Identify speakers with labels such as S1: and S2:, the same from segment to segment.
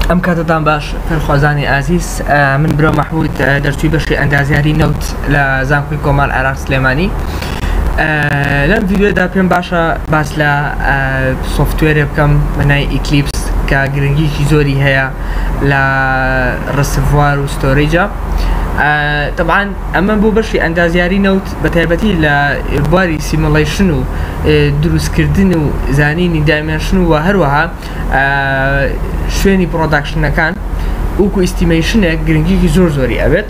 S1: ئەم کاتتان باش فێرخوازانی ئازیز من برا مەحمود دەرچووی بەشی ئەندازیاری نەوت لە زانکۆی کۆمار عراق سلێمانی لەم ڤیددیودا پێم باشە باس لە سوفتوێرێ بکەم بەنای ئیکلیپس کە گرنگیکی زۆری هەیە لە ڕسڤوار و ستۆریجە تەبان ئەمە بۆ بەشی ئەندازیاری نەوت بەتایبەتی لە بواری سیموڵەیشن و دروستکردن و زانینی دایمێنشن و هەروەها شوێنی پڕۆداکشنەکان وەکو ئیستیمەیشنێک گرنگیەکی زۆر زۆری ئەبێت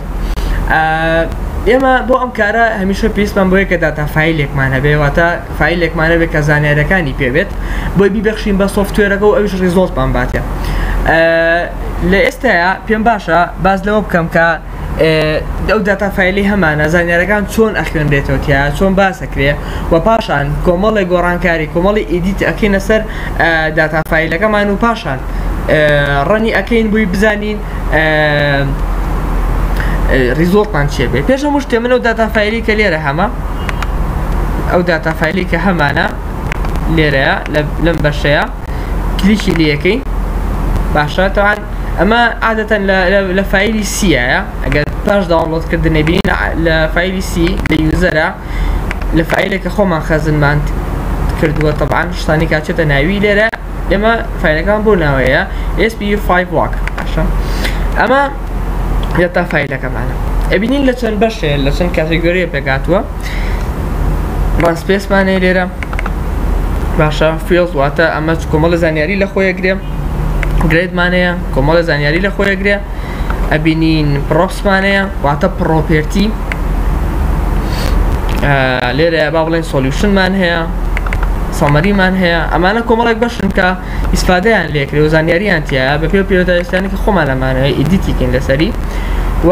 S1: ئێمە بۆ ئەم کارە هەمیشە پێویستمان بەوەیە کە داتا فایلێکمان هەبێ واتە فایلێکمان هەبێ کە زانیارەکانی پێبێت بۆی بیبەخشین بە سۆفتوێرەکە و ئەویش ڕیزۆڵتمان باتێ لە ئێستایا پێم باشە باس لەوە بکەم کە ئەو داتا فایلی هەمانە زانیارەکان چۆن ئەخوێنرێتەوە تیا چۆن باسەکرێ و پاشان کۆمەڵی گۆڕانکاری کۆمەڵی ئیدیت ئەکەینە سەر داتا فیلەکەمان و پاشان ڕەنی ئەەکەین بووی بزانین ریزۆڵتان چێ بێ پێشە مشتێ منەوە داتا فیلی کە لێرە هەمە ئەو داتا فیلی کە هەمانە لێرەیە لەم بەشەیە کلیکی لێ ئەکەی باشە تاوان ئەمە عادەتەن لە فیلی سیە ئەگەر پاش داوڵۆت کردنی بین لە فیلی سی لە یوزەرە لە فیلێکە خۆمان خەزنمان کردووە طبعاان شتانی کاچێتە ناوی لێرە ئێمە فیلەکان بۆ ناوەیە SP5 واک باشە ئەمە لە تا فیلەکەمانە ئەبینین لە چەند بەشێ لە چەند کاتێگۆریە پێکاتوە ڕاست پێسمانەیە لێرە باشە فێڵ واتە ئەمە کۆمەڵە زانیاری لە خۆیە گرێ گرێدمانەیە کۆمەڵە زانیاری لە خۆیە گرێ ئەبینین پرۆپسمانەیە واتە پرۆپێرتی لێرە با بڵێن سۆلیوشنمان هەیە سەمەریمان هەیە ئەمانە کۆمەڵێک بەشن کە ئیسفادەیان لێکرێ و زانیاریان تایە بە پێ پێوەداویستانی کە خۆمان ئەمانەیە ئیدیتیکن لەسەری و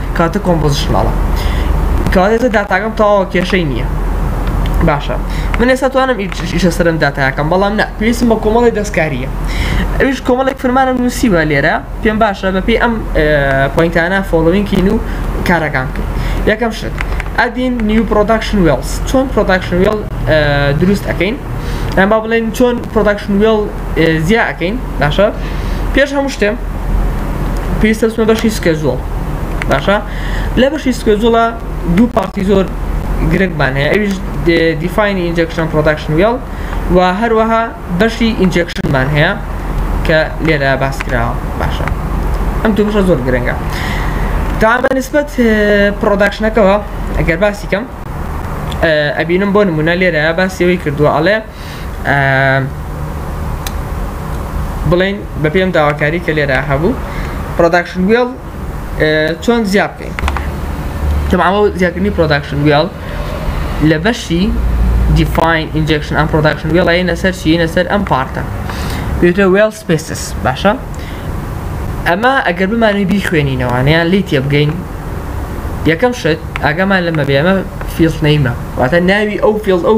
S1: کاتە کۆمپۆزیشناڵە کەواتە ئێستا داتاکەم تەواوە کێشەی نییە باشە من ئێستا توانم ئیشە سەرم داتاکەم بەڵام نە پێویستم بە کۆمەڵی دەستکاریە ئەوش کۆمەڵێک فرمانم نووسیوە لێرە پێم باشە بەپی ئەم پوینتانە فۆڵوینکین و کارەکان کرد یەکەم شت ئەدین نیو پرۆداکشن وێڵز چۆن پرۆداکشن وێڵ دروست ئەەکەین ئەم با بڵێن چۆن پرۆداکشن وێڵ زیا ئەەکەین باشە پێش هەموو شتێم پێویستە بچمە بەشی سکێجوڵ باشە لە بەشی سکێجوڵە دوو پارتی زۆر گرنگمان هەیە ئەویش دیفاینی ئینجەکشن پرۆداکشن وێڵ و هەروەها بەشی ئینجەکشنمان هەیە کە لێرە باس کراوە باشە ئەم دوو بەشە زۆر گرنگە تا بە نسبەت پرۆداکشنەکەەوە ئەگەر باسی کەم ئەبینم بۆ نمونە لێرە باسیەوەی کردووە ئەڵێ بڵێن بە پێم داواکاری کە لێرا هەبوو پرۆداکشن وێڵ چۆن زیاد بکەین تەماوە زیادکردنی پرۆداکشن وێڵ لە بەشی دیفاین ئینجکشن ئەم پرۆداکشن وێڵی لەسەر چی لەسەر ئەم پارتە پێتە وێڵ سپێسس باشە ئەمە ئەگەر بمانوی بیخوێنینەوانیان لی تێ بگەین یەکەم شت ئاگامان لەمە بێمە فیڵ نەیمە واتە ناوی ئەو فیڵ ئەو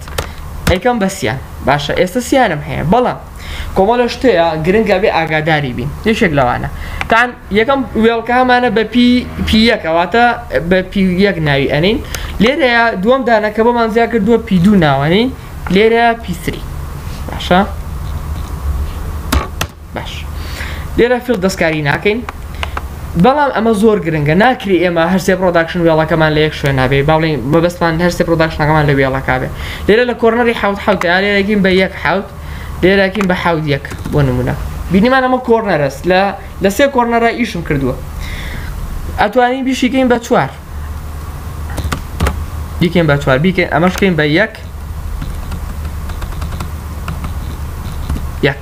S1: ئەیکەم بە سیان باشە ئێستا سیانم هەیە بەڵام کۆمەڵە شتەیە گرنگە بێ ئاگاداری بین یەکێک لەوانە تان یەکەم وێڵکامانە بە پی پی یەکەواتە بە پی یەک ناوی ئەنین لێرەیە دووەم دانەکە بۆمان زیا کردووە پی دوو ناوەنین لێرە پیسری باشە باش لێرە فیڵ دەستکاری ناکەین بەڵام ئەمە زۆر گرنگە ناکری ئێمە هەرسێ پرۆداکشن وێڵەکەمان لە یەک شوێن نابێ باڵین مەبەستمان هەرسێ پرۆداکشنەکەمان لە وێڵەکە بێ لێرە لە کۆرنەری حوت حوت لێرەگین بە یەک حوت لێرەکین بە حوت یەک بۆ نمونە بینیمان ئەمە کۆرنەرەس لە لە سێ کۆرنەرە ئیشم کردووە ئەتوانی بیشیکەین بە چوار بیکەین بە چوار بیکەین ئەمەشکەین بە یەک یەک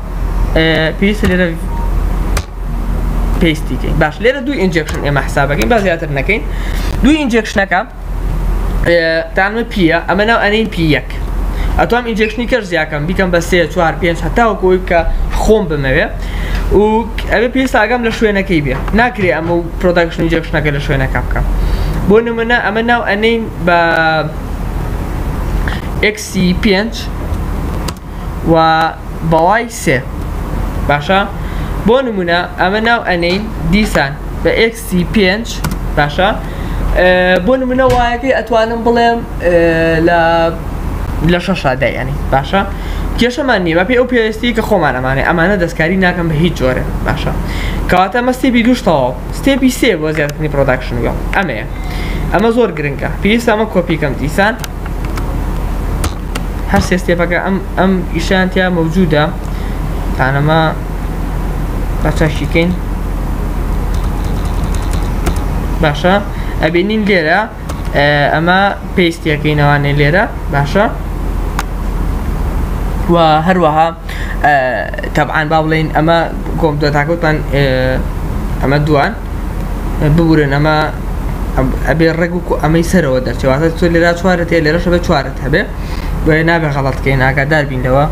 S1: پێویستە لێرە پێستی کەین باش لێرە دوو ئینجێکشن ئێمە حسابەکەین با زیاتر نەکەین دوو ئینجێکشنەکە تانمە پیە ئەمە ناو ئەنین پی یەک ئەتوام ئینجێکشنی کەش زیاکەم بیکەم بە سێ چوار پێنج هەتاوەکەی کە خۆم بمەوێ و ئەوێ پێویست ئاگام لە شوێنەکەی بێ ناکرێ ئەمە و پرۆداکشن ئینجێکشنەکە لە شوێنەکە بکەم بۆ نمونە ئەمە ناو ئەنین بە ئەکسی پێنج و بەڵای سێ باشە بۆ نمونە ئەمە ناو ئەنین دیسان بە ئکسی پێنج باشە بۆ نمونە وایەکەی ئەتوانم بڵێم لە لە شەشا دەیانی باشە کێشەمان نیە بەپی ئەو پێویستی کە خۆمان ئەمانێ ئەمانە دەستکاری ناکەم بە هیچ جۆرە باشە کەواتە مە ستێپی دوشتەوە ستێپی سێ بۆ زیاتنی پرۆداکشنگە ئەمەیە ئەمە زۆر گرنگە پێویستە ئەمە کۆپیکەم دیسان هەر سێ ستێپەکە ئەم ئەم ئیشان تیا مەوجودە تانەما بە چەشیکەین باشە ئەبینین لێرە ئەمە پێستیەکەینەوانێ لێرە باشە و هەروەها تەبعاان با بڵین ئەمە کۆمپۆتاکەوتان ئەمە دووان ببورن ئەمە ئەبێ ڕێک وەکو ئەمەی سەرەوە دەرچێت واتە تۆ لێرا چوارت هەیە لێرەش ئەبێ چوارت هەبێ بۆیە نابێ غەڵەت بکەین ئاگادار بین لەوە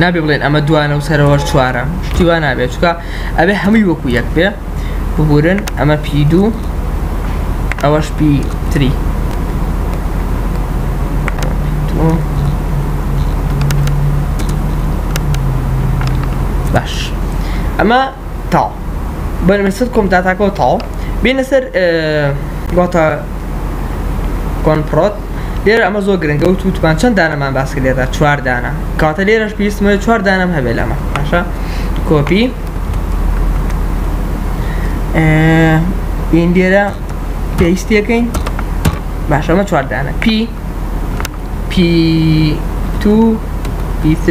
S1: نابێ بڵێن ئەمە دوانە و سەرەوەش چوارە شتی وا نابێت چکە ئەبێ هەمووی وەکو یەک بێ ببورن ئەمە پی دوو ئەوەش پی تری باش ئەمە تاو بەرمە سەر کۆمتاتاکەەوە تاو بینە سەر گۆتە کۆنپڕۆت لێرە ئەمە زۆر گرنگە و تووتمان چەند دانەمان باس لێدا چواردانە کاتە لێرەش پێویستمە چوار دانم هەبێت لەمە باشە کۆپی ئین لێرە پێویستەکەین باشەمە چواردانە پی P2 P3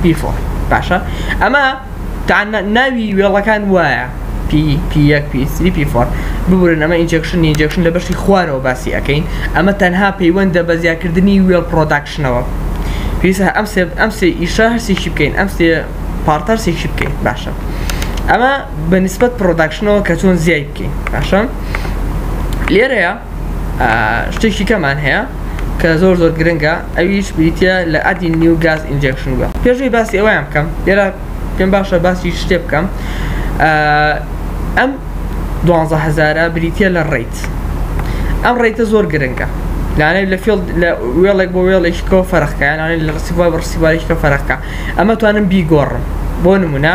S1: P4 باشە ئەمە تا ناوی وێڵەکان وایە P1 P3 P4 ببورن ئەمە ئینجێکشن ئینجێکشن لە بەشی خوارەوە باسی ئەەکەین ئەمە تەنها پەیوەندە بە زیاکردنی وێڵ پرۆداکشنەوە پێویستە ئەم سێ ئەم سێ ئیشە هەرسێکی بکەین ئەم سێ پارتەر سێکی بکەین باشە ئەمە بە نسبەت پرۆداکشنەوە کە چۆن زیای بکەین باشە لێرەیە شتێکی کەمان هەیە کە زۆر زۆر گرنگە ئەویش بریتە لە ئەدی نیو گاز ئینجکشن بە پێشوی باسی ئەویان بکەم لێرا پێم باشە باسی شتێ بکەم ئەم دوانزە هزارە بریتە لە ڕیت ئەم ڕێتە زۆر گرنگە لانە لە فێڵ لە وێڵێک بۆ وێڵێکەوە فەرقکەیانانە لە ڕسیوا بە ڕسیوارێکەکە فەرقکە ئەمە توانم بیگۆڕم بۆ نمونە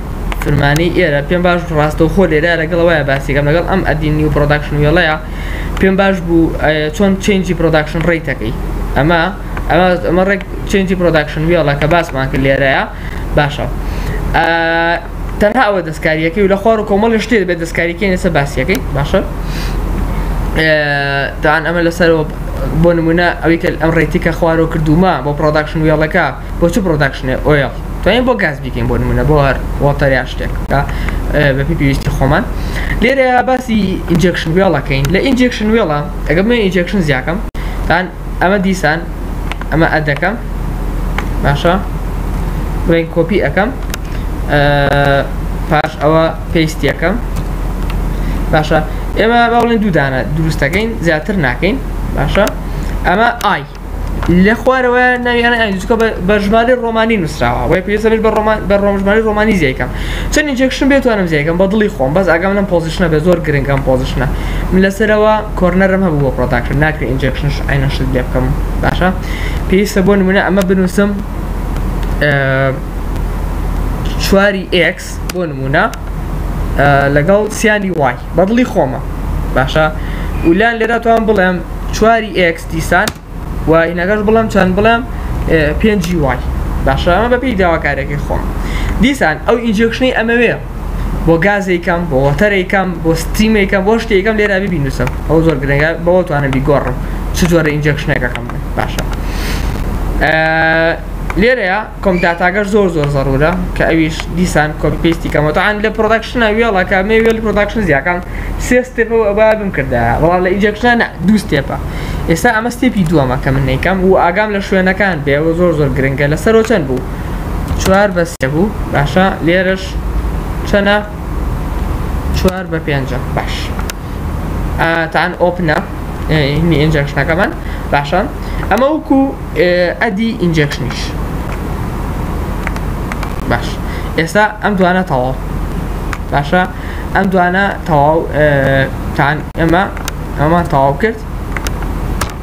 S1: فرمانی ئێرە پێم باش بوو ڕاستەوخۆ لێرە لەگەڵ ئەوەیە باسی کەم لەگەڵ ئەم ئەدی نیو پرۆداکشن وێڵەیە پێم باش بوو چۆن چێنجی پرۆداکشن ڕێیتەکەی ئەمە ئەمە ڕێک چێنجی پرۆداکشن وێڵە کە باسمان کرد لێرەیە باشە تەنها ئەوە دەستکاریەکەی و لە خوار و کۆمەڵی شتێ بێت دەستکاریکەی لەسە باسیەکەی باشە دان ئەمە لەسەرەوە بۆ نمونە ئەوی کە ئەم ڕێتی کە خوارەوە کردومە بۆ پرۆداکشن وێڵەکە بۆ چ پڕۆداکشنێ ئۆیڵ توانین بۆ گاز بیکەین بۆ نمونە بۆ هەر وۆتەر یا شتێک بەپی پێویستی خۆمان لێرە باسی ئینجەکشن وێڵەکەین لە ئینجەکشن وێڵە ئەگەم من ئینجەکشن زیاکەم تان ئەمە دیسان ئەمە ئەدەکەم باشە بڵێن کۆپی ئەەکەم پاش ئەوە پێستیەکەم باشە ئێمە باڵێن دوودانە دروستەکەین زیاتر ناکەین باشە ئەمە ئای لە خوارەوە ناوی یانە ئایدوچکە بە ژمارەی ڕۆمانی نووسراوە وە پێویستە بێت بە ڕۆژمانی ڕۆمانی زیای کەم چەند ئینجێکشن بێت توانم زیای کەم بە دڵی خۆم بەس ئاگام لەم پۆزیشنە بێت زۆر گرنگە ئەم پۆزیشنە من لە سەرەوە کۆرنەرم هەبوو بۆ پڕۆداکشن ناکرێت ئینجێکشنش عەینەن شت لێ بکەم باشە پێویستە بۆ نمونە ئەمە بنووسم چواری ئێکس بۆ نمونە لەگەڵ سیانی وای بە دڵی خۆمە باشە ولان لێرە توان بڵێم چواری ئێکس دیسان و ئینەکەش بڵێم چەند بڵێم پێنجی وای باشە ئەمە بە پێی داواکارێکی خۆم دیسان ئەو ئینجێکشنەی ئەمەوێ بۆ گازێکم بۆ وەتەرێکم بۆ ستیمێکم بۆ شتێکم لێرا ببینوسم ئەو زۆر گرنگە بەوە توانم بیگۆڕم چ جۆرە ئینجێکشنێکەکەم باشە لێرەیە کۆم داتاگەر زۆر زۆر زەرورە کە ئەویش دیسان کۆپی پیستی کەمەوە تەعان لە پرۆداکشنە وێڵەکە مێ وێڵی پرۆداکشن زیاکان سێ ستێپە و ئەبا بمکردە بەڵام لە ئینجەکشنە نە دوو ستێپە ئێستا ئەمە ستێپی دووەمە کە من نەیکەم و ئاگام لە شوێنەکان بێ و زۆر زۆر گرنگە لە سەرەوە چەند بوو چوار بە سێ بوو باشە لێرەش چەنە چوار بە پێنجە باش تان ئۆپنە هینی ئینجەکشنەکەمان باشە ئەمە وەکو ئەدی ئینجەکشنیش باش ئێستا ئەم دوانە تەواو باشە ئەم دوانە تەواو تان ئەمە ئەمان تەواو کرد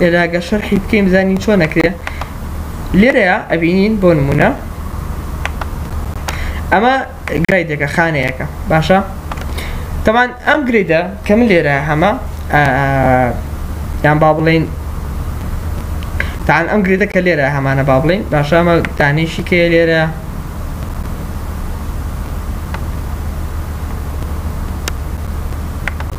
S1: ئێراگە شەرحی بکەین بزانین چۆن نەکرێ لێرەیە ئەبینین بۆ نمونە ئەمە گرایدێکە خانەیەەکە باشە تەمان ئەم گرێدە کە من لێرە هەمە یان با بڵین تان ئەم گرێدە کە لێرە هەمانە با بڵین باشامە دانیشی کێ لێرە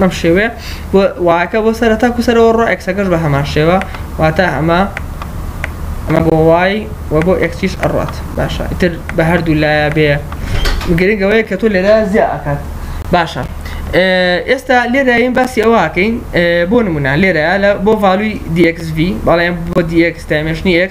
S1: بەم شێوەیە بۆ وایەکە بۆ سەرە تاکو سەرەوە ڕۆ ئەکسەکەش بە هەمان شێوە واتە ئەمە ئەمە بۆ وای و بۆ ئەکسیش ئەڕات باشە ئیتر بە هەردوو لایە بێ گرنگەوەیە کە تۆ لێرە زیاد ئەکات باشە ئێستا لێرەین باسی ئەوواکەین بۆ نمونە لێرە لە بۆ ڤالوی DXV بەڵێن بۆ DX تایمشنی X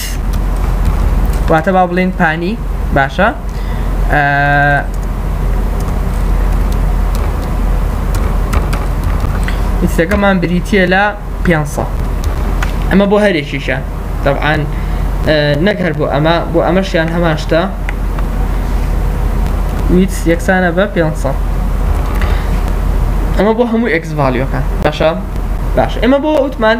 S1: واتە با بڵێن پانی باشە ئیسەکەمان بریتە لە 500 ئەمە بۆ هەرێکیشە دەبعاان نەک هەر بۆ ئەمە بۆ ئەمەشیان هەمان شتە ویت یەکسانە بە 500 ئەمە بۆ هەموو ئەکس ڤالیۆکە باشە باش ئەمە بۆ وتمان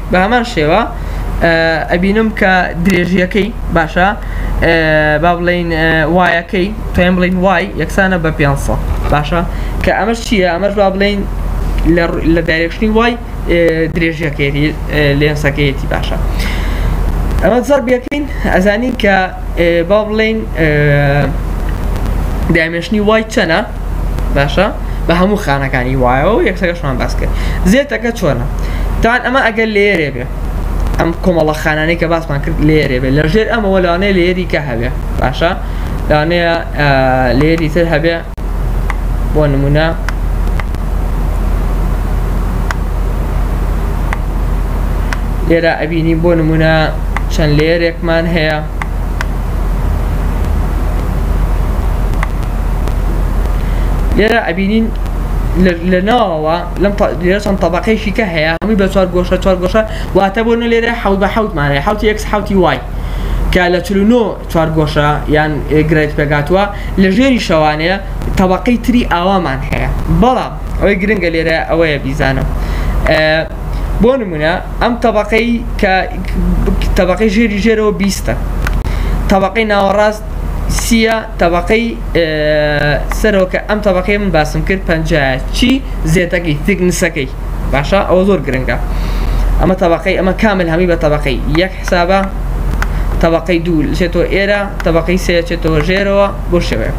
S1: بەهەمان شێوە ئەبینم کە درێژیەکەی باشە با بڵین وایەکەی توێن بڵین وای یەکسانە بە 500 باشە کە ئەمەش چییە ئەمەش با بڵین لە دایرێکشنی وای درێژیەکەی لێنسەکەیەتی باشە ئەمە زەر بەکەین ئەزانین کە با بڵین دامێشنی وای چەنە باشە بە هەموو خانەکانی وایەوە و یەکسەکەشمان باس کرد زێتەکە چۆنە تاوان ئەمە ئەگەر لێرێ بێ ئەم کۆمەڵە خانانەی کە باسمان کرد لێرێ بێ لە ژێر ئەمەوە لەوانەیە لێری کە هەبێ باشە لەوانەیە لێری تر هەبێ بۆ نمونە لێرە ئەبینی بۆ نمونە چەند لێرێکمان هەیە لێرە ئەبینین لە ناوەوە لەم لێرە چەند طبقەیەکی کە هەیە هەمووی بە چوار گۆشە چوار گۆشە واتە بۆ نە لێرە حەوت بە حەوتمانە حوتی یەکس حوتی وای کە لە چلونۆ چوار گۆشە یان گرێت پێگاتوە لە ژێری شەوانەیە طبقەی تری ئاوامان هەیە بەڵام ئەوەی گرنگە لێرە ئەوەیە بیزانە بۆ نمونە ئەم تەبەقەی کە تەبەقەی ژێری ژێرەوە بیستە تەبەقەی ناوەڕاست سیە تەبەقەی سەرۆکە ئەم تەبەقەی من باسم کرد پەنجایە چی زێتەکەی تیکنسەکەی باشە ئەوە زۆر گرنگە ئەمە تەبەقەی ئەمە کامل هەمی بە تەبەقەی یەک حسابە تەبەقەی دوو چێتەوە ئێرە تەبەقەی سێ چێتەوە ژێرەوە بۆ شێوەیە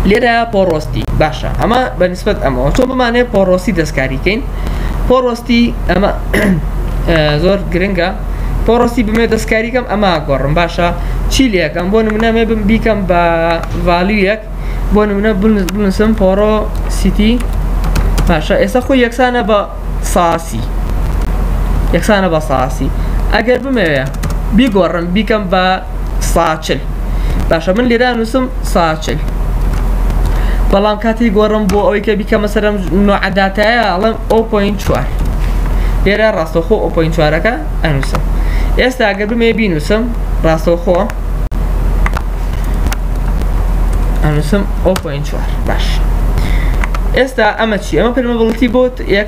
S1: لێرە پۆڕۆستی باشە ئەمە بەنسبت ئەمەوە چۆن بمانێ پۆڕۆسی دەستکاریکەین پۆڕۆستی ئەمە زۆر گرنگە پۆڕۆستی بمێ دەستکاریکەم ئەمە گۆڕم باشە چی لەکەم بۆ نمونە مێ بم بیکەم بە ڤالیویەک بۆ نمونە بنووسم پۆڕۆ سیتی باشە ئێستا خۆی یەکسانە بە ساسی یەکسانە بە ساسی ئەگەر بمەوێ بیگۆڕم بیکەم بە ساچل باشە من لێرا نووسم ساچل بەڵام کاتی گۆڕم بۆ ئەوەی کە بیکەمە سەرم نوعداتایە ئەڵم ئۆپۆین چوار لێرە ڕاستەخۆ ئۆپۆین چوارەکە ئەنووسم ئێستا ئەگەر بمێ بینووسم ڕاستەخۆ ئەنووسم ئۆپۆین چوار باش ئێستا ئەمە چی ئەمە پرمەبڵتی بۆت یەک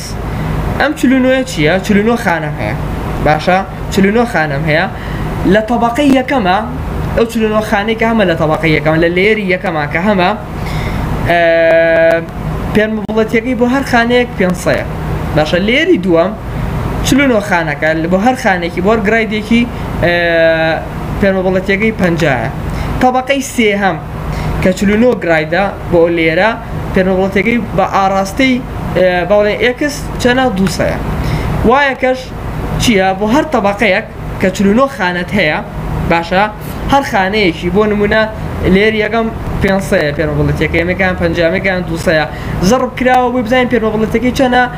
S1: ئەم چل و نۆیە چییە؟ چل و نۆ خانەم هەیە باشە چل و نۆ خانەم هەیە لە تەبەقەی یەکەمە ئەو چل و نۆ خانەی کە هەمە لە تەبەقەی یەکەمە لە لێری یەکەمە کە هەمە پێنج مڵەتەکەی بۆ هەر خانەیەک پێنجسەیە باشە لێری دووەم چل و نۆ خانەکە بۆ هەر خانێکی بۆر گرایدێکی پێنج مڵەتەکەی پەنجایە تەبەقەی سێهەم کە چل و نۆ گرایدە بۆ لێرە پێنەبڵۆتەکەی بە ئاڕاستەی با بڵێین ئێکس چەنە دوو سەیە وایەکەش چییە بۆ هەر تەبەقەیەک کە چلو نۆ خانەت هەیە باشە هەر خانەیەکی بۆ نمونە لێر یەکەم پێنسەیە پێنەبڵێتەکەی مەکان پەنجامەکان دوو سەیە زەڕب کراوە بۆی بزانین پێنەبڵێتەکەی چەنە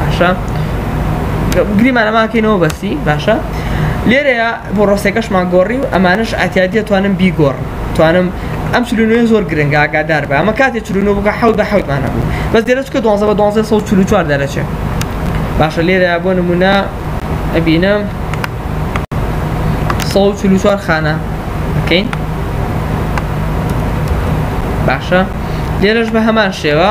S1: باشە گریمان ئەماکەینەوە بەسی باشە لێرەیە بۆ ڕۆسێکەشمان گۆڕی و ئەمانش ئاتیادیە توانم بیگۆڕ توانم ئەم چلونوێ زۆر گرنگ ئاگادار بە ئەمە کاتێ چلونو بگە حەوت بە حەوتمانە بوو بەس دێرە چکە دوانزە بە دوانزە سە چلو چوار دەرەچێت باشە لێرە بۆ نمونە ئەبینم سە چلو چوار خانە بکەین باشە لێرەش بە هەمان شێوە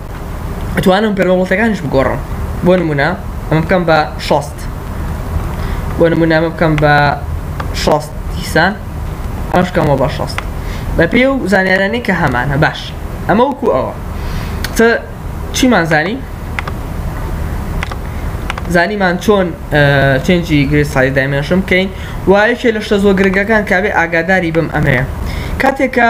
S1: ئەتوانم پێرۆڵتەکانش بگۆڕم بۆ نمونە ئەمە بکەم بە شەست بۆ نمونە ئەمە بکەم بە شەست دیسان ئەمەش بکەمەوە بە شەست بە پێ و زانیارانی کە هەمانە باش ئەمە وەکو ئەوە تە چیمان زانی زانیمان چۆن چنجی گرێ سای دایمێنشم بکەین وایەکێ لە شتە زۆ گرنگەکان کاێ ئاگاداری بم ئەمەیە کاتێکە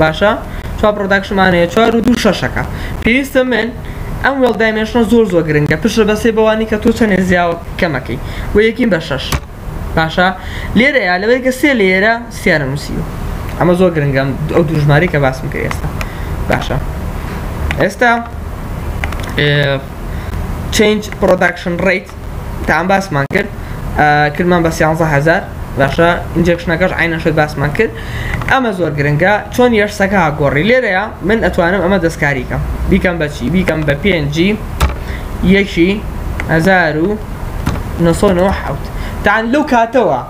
S1: باشە چوار پرۆداکشنمان هەیە چوار و دوو شەشەکە پێویستە من ئەم وێڵ دایمێنشنە زۆر زۆر گرنگە پشت بە سێ بەوانی کە تۆ چەندێ زیاوە کەمەکەی و یەکین بە شەش باشە لێرەیە لەوەی کە سێ لێرە سیانە نووسیوە ئەمە زۆر گرنگە ئەو دوو ژمارەی کە باسم کرد ئێستا باشە ئێستا change production rate تان باسمان کرد کردمان بە سیانزە هزار باشە ئینجکشنەکەش عینە شت باسمان کرد ئەمە زۆر گرنگە چۆن یەرسەکە گۆڕی لێرەیە من ئەتوانم ئەمە دەستکاریکەم بیکەم بەچی بیکەم بە پێنجی یەکی هزار و نسۆ نۆ حوت تان لەو کاتەوە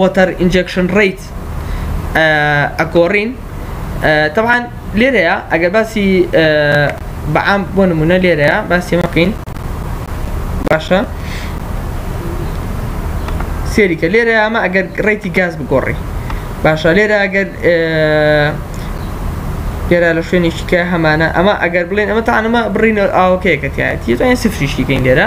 S1: وەتەر ئینجەکشن ڕیت ئەگۆڕین تەوان لێرەیە ئەگەر باسی بەعام بۆ نمونە لێرەیە باسی مەکەین باشە سێریکە لێرە ئەمە ئەگەر ڕێتی گاز بگۆڕی باشە لێرە ئەگەر لێرە لە شوێنێکیکە هەمانە ئەمە ئەگەر بڵێن ئەمە تاانمە بڕینە ئاوکەیەکەتیایەتی تۆیان سفریشتیکەین لێرە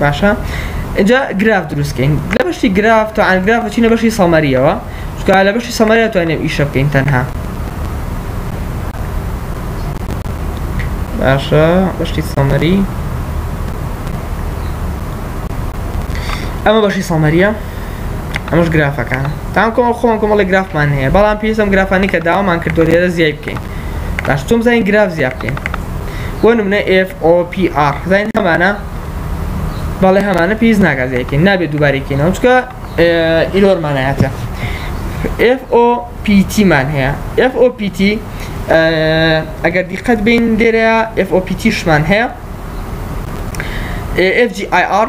S1: باشە ئجا گراف دروستکەین لە بەشی گراف تا ئەنگراف بچینە بەشی سەمەریەوە چکە لە بەشی سەمەریا توانێت ئیشە بکەین تەنها باشە بەشی سەمەری ئەمە بەشی سەمەریە ئەمەش گرافەکان تام کۆمەڵ خۆم کۆمەڵی گرافمان هەیە بەڵام پێویستم گرافانی کە داوامان کردو لێرە زیای بکەین باش چۆن بزانین گراف زیاد بکەین بۆ نمونە FOPR زانین هەمانە بەڵێ هەمانە پێویست ناکە زیایکەین نابێت دووبارێکینەوە چکە ئیرۆرمانایەتە FOPT مان هەیە FOPT ئەگەر دیقەت بین لێرە FOPT شمان هەیە FGIR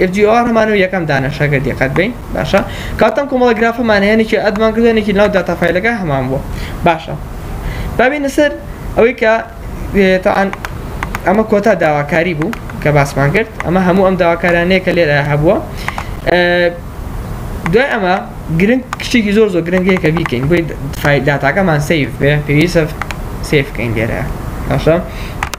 S1: ئێف جی ئۆ ئەمانە و یەکەم دانەشە گەر دقت بین باشە کاتەم کۆمەڵە گرافەمانەیەنێکی ئەدمان گوێنێکی ناو داتا فیلەکە هەمان بووە باشە بابینە سەر ئەوەی کە تاعاان ئەمە کۆتا داواکاری بوو کە باسمان کرد ئەمە هەموو ئەم داواکارانەیە کە لێرە هەبووە دوای ئەمە گرنگ کشتێکی زۆر زۆر گرنگەیە کە بیکەین بۆی داتاکەمان سیف بێ پێویستە سیفکەین لێرە باشە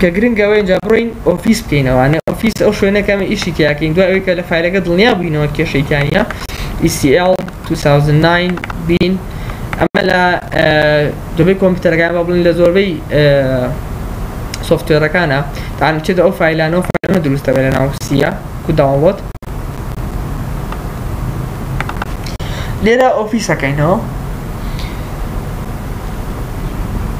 S1: کە گرنگە ئەوەیە ئینجا بڕۆین ئۆفیس بکەینەوە یانێ ئۆفیس ئەو شوێنەیە کە ئێمە ئیشی تیا کەین دوای ئەوەی کە لە فایلەکە دڵنیا بووینەوە کێشەی تیا نیە ECL 2009 بین ئەمە لە دەبێ کۆمپیوتەرەکان بە بڵین لە زۆربەی سۆفتوێرەکانە تاان بچێتە ئەو فایلانەوە فایلەمە دروستە بە لە ناو سیە کو داوڵۆت لێرە ئۆفیسەکەینەوە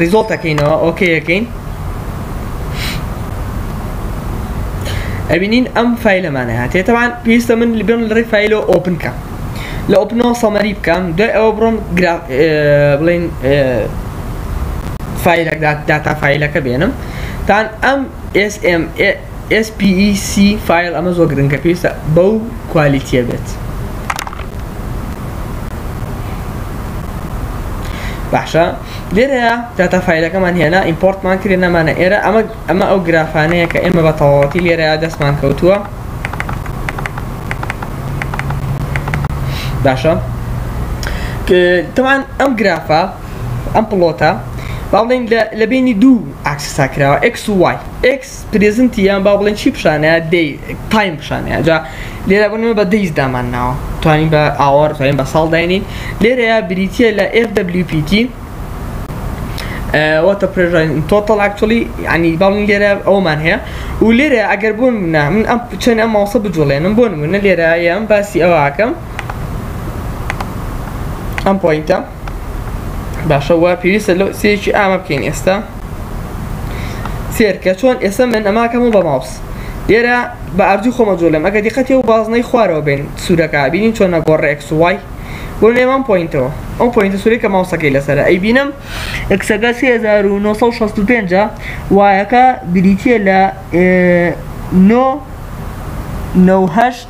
S1: ریزۆڵت ئەکەینەوە ئۆکەی ئەکەین ئەبینین ئەم فیلەمانە هاتێ تەوان پێویستە من بێن لەڕێ فیلۆ ئۆپن کەم لە ئۆپنەوە سەمەری بکەم دوای ئەوە بڕۆم بڵین فیلەکدات داتا فیلەکە بێنم تان ئەم SPEC فایل ئەمە زۆر گرنگە پێویستە بەو کوالیتیە بێت باشە لێرەیە داتا فیلەکەمان هێنا ئیمپۆرتمان کرێ نەمانە ئێرە ئەمە ئەمە ئەو گرافانەیە کە ئێمە بە تەواوەتی لێرەیە دەستمان کەوتووە باشە تەوان ئەم گرافە ئەم پڵۆتە باڵێن لە بینی دوو ئاکسسا کراوە X و Y X پرێزنتی یان با بڵێن چی پیشانەیە دەی تایم پیشانەیە جا لێرە بۆ نمونە بە دەیز دامان ناوە توانین بە ئاوەر توانین بە ساڵ داینین لێرەیە بریتیە لە FWPT واتە پرێژن تۆتەڵ ئەکچولی ینی باڵین لێرە ئەومان هەیە و لێرە ئەگەر بوون منە من ئەم چەند ئەم ماوسە بجوڵێنم بۆ نمونە لێرە یان باسی ئەوەکەم ئەم پۆینتە باشە وا پێویستە لەو سێکی ئامە بکەین ئێستا سێرکە چۆن ئێستا من ئەماکەم و بە ماوس ئێرە بە ئارجو خۆمە جۆلم ئەگە دیقەتی و بازنەی خوارەوە بین سوورەکە بینین چۆن نەگۆڕ ڕێکس وای بۆ نێوان پوینتەوە ئەو پوینتە سووری کە ماوسەکەی لەسەر ئەی بینم ئەکسەکە 1965 وایەکە بریتە لە 9 9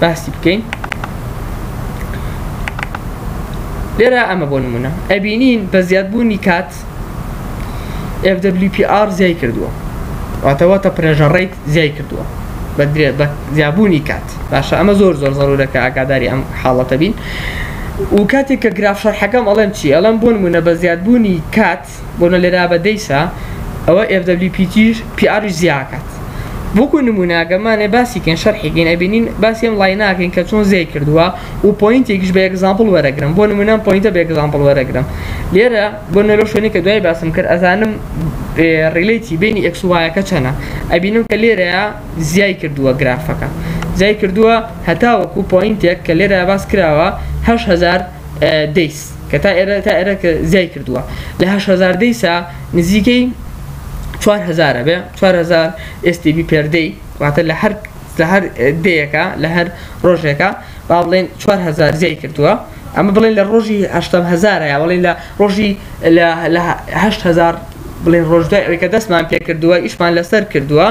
S1: باسی بکەین لێرە ئەمە بۆ نمونە ئەبینین بە زیادبوونی کات FWPR زیای کردووە واتەوەتە پرێژە ڕیت زیای کردووە بە درێ بە زیابوونی کات باشە ئەمە زۆر زۆر زەرورەکە ئاگاداری ئەم حاڵەتە بین و کاتێک کە گراف شەرحەکەم ئەڵێم چی ئەڵم بۆ نمونە بە زیادبوونی کات بۆنە لێرا بە دەیسا ئەوە ئێف دەبلیو پی تیش پی ئاریش زیا ئەکات وەکو نمونە گەمانێ باسی کەین شەرحی کەین ئەبینین باسی ئەم ڵای ناکەین کە چۆن زیای کردووە و پۆینتێکیش بە ئێگزامپڵ وەرەگرم بۆ نمونە ئەم پۆینتە بە ئێگزامپڵ وەرەگرم لێرە بۆ نەرۆ شوێنی کە دوای باسم کرد ئەزانم ڕیلیتی بینی ئێکس وایەکە چەنە ئەبینم کە لێرەیە زیای کردووە گرافەکە زیای کردووە هەتا وەکو پۆینتێک کە لێرە باس کراوە هەشهزار دەیس کە تا ئێرە تا ئێرە کە زیای کردووە لە هزار دەیسا نزیکەی 4هزارە بێ 4هزار ئێستیبی پێردەی واتە لە هەر لە هەر دەیەکە لە هەر ڕۆژێکە با بڵێن 4هزار زیای کردووە ئەمە بڵێن لە ڕۆژی هزارە بڵین لە ڕۆژی لەهزار بڵێن ڕۆژدای ئەوەی کە دەستمان پێ کردووە ئیشمان لەسەر کردووە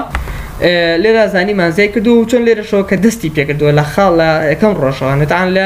S1: لێرا زانیمان زیای کردو و چۆن لێرەشەوە کە دەستی پێکردووە لە خاڵ لە یەکەم ڕۆژەوانێتان لە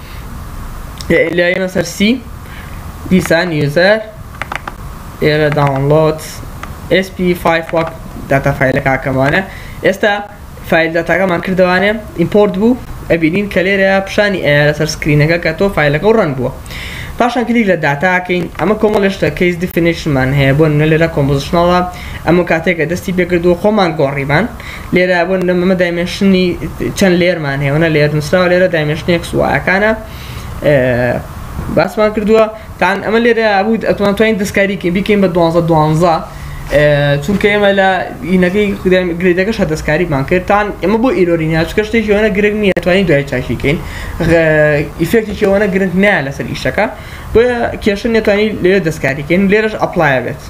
S1: لە ئێمە سەر سی دیسان یوزەر ئێرە داونلۆد SP5 وەک داتا فایلە کاکەمانە ئێستا فایل داتاکەمان کردوانێ ئیمپۆرت بوو ئەبینین کە لێرە پیشانی ئەیە لەسەر سکرینەکە کە تۆ فیلەکە و ڕەنگ بووە پاشان کلیک لە داتاکەین ئەمە کۆمەڵشتە کەیس دیفینیشنمان هەیە بۆ لێرە کۆمپۆزیشنەڵە ئەمە کاتێکە دەستی پێکردو خۆمان گۆڕیمان لێرە بۆ نمونە ئەمە دایمێنشنی چەند لێرمان هەیە وەنە لێر نووسراوە لێرە دایمێنشنی ئێکس وایەکانە باسمان کردووە تان ئەمە لێرە بوو ئەتوان توانین دەستکاریکەین بیکەین بە دوانزە دوانزە چونکە ئێمە لە ئینەکەی گرێدەکەش هە دەستکاریمان کردتان ئەمە بۆ ئیرۆرینیا چکە شتێکی ئەوەنە گرنگ نیە توانین دوای چاشیکەین ئیفێکتێکی ئەوەنە گرنگ نیە لەسەر ئیشەکە بۆیە کێشە نێتوانی لێرە دەستکاریکەین لێرەش ئەپلایە بێت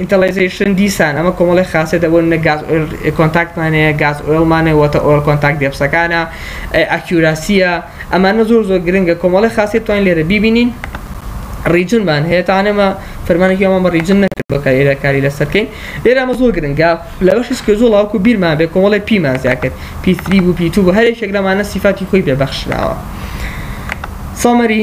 S1: ئینتەڵێزەیشن دیسان ئەمە کۆمەڵێ خاسیەتە بۆ نمونە گاز ئۆیڵ کۆنتاکتمان هەیە گاز ئۆیڵمان هەیە وۆتە ئۆیڵ کۆنتاکت دێپسەکانە ئەکیوراسیە ئەمانە زۆر زۆر گرنگە کۆمەڵێ خاسیەت توانین لێرە بیبینین ڕیجنمان هەیە تا ئەمە فەرمانێکی ئەومان بە ڕیجن نەکرد بە کاری لێرە کاری لەسەر بکەین لێرە ئەمە زۆر گرنگە لە بەشی سکێجوڵ هەڵکو بیرمان بێ کۆمەڵێ پیمان زیا کرد پی3 بوو پی2 بوو هەر یەکێک لەمانە سیفاتی خۆی پێ بەخشراوە سەمەری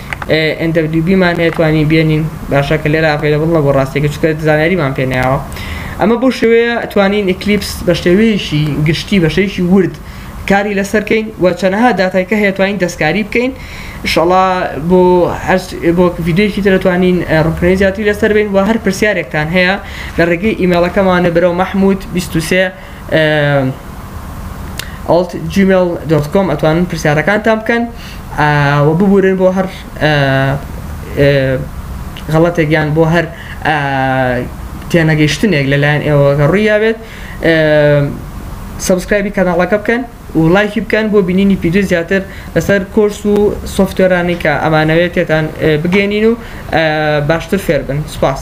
S1: NWB مان هەیە توانین بێنین باشە کە لێرە ئەڤەیلەبڵ نەبوو ڕاستەکە چونکە زانیاریمان پێ نەیاوە ئەمە بۆ شێوەیە توانین ئیکلیپس بە شێوەیەکی گشتی بە شێوەیەکی ورد کاری لەسەر کەین و چەنەها داتای کە هەیە توانین دەستکاری بکەین ئینشاڵا بۆ هەر بۆ ڤیدیۆیەکی تر توانین ڕوونکردنەوەی زیاتری لەسەر بین و هەر پرسیارێکتان هەیە لە ڕێگەی ئیمەیڵەکەمانە بەرەو محمود 23 ئەڵت جیمێڵ دۆت کۆم ئەتوانن پرسیارەکانتان بکەن و ببورن بۆ هەر غەڵەتێک یان بۆ هەر تێنەگەیشتنێک لەلایەن ئێوەگە ڕوویاوێت سبسکرایبی کەناڵەکە بکەن و لایکی بکەن بۆ بینینی پیدو زیاتر لەسەر کۆرس و سوفتێرانی کە ئەمانەوێت تێتان بگەێنین و باشتر فێربن سوپاس.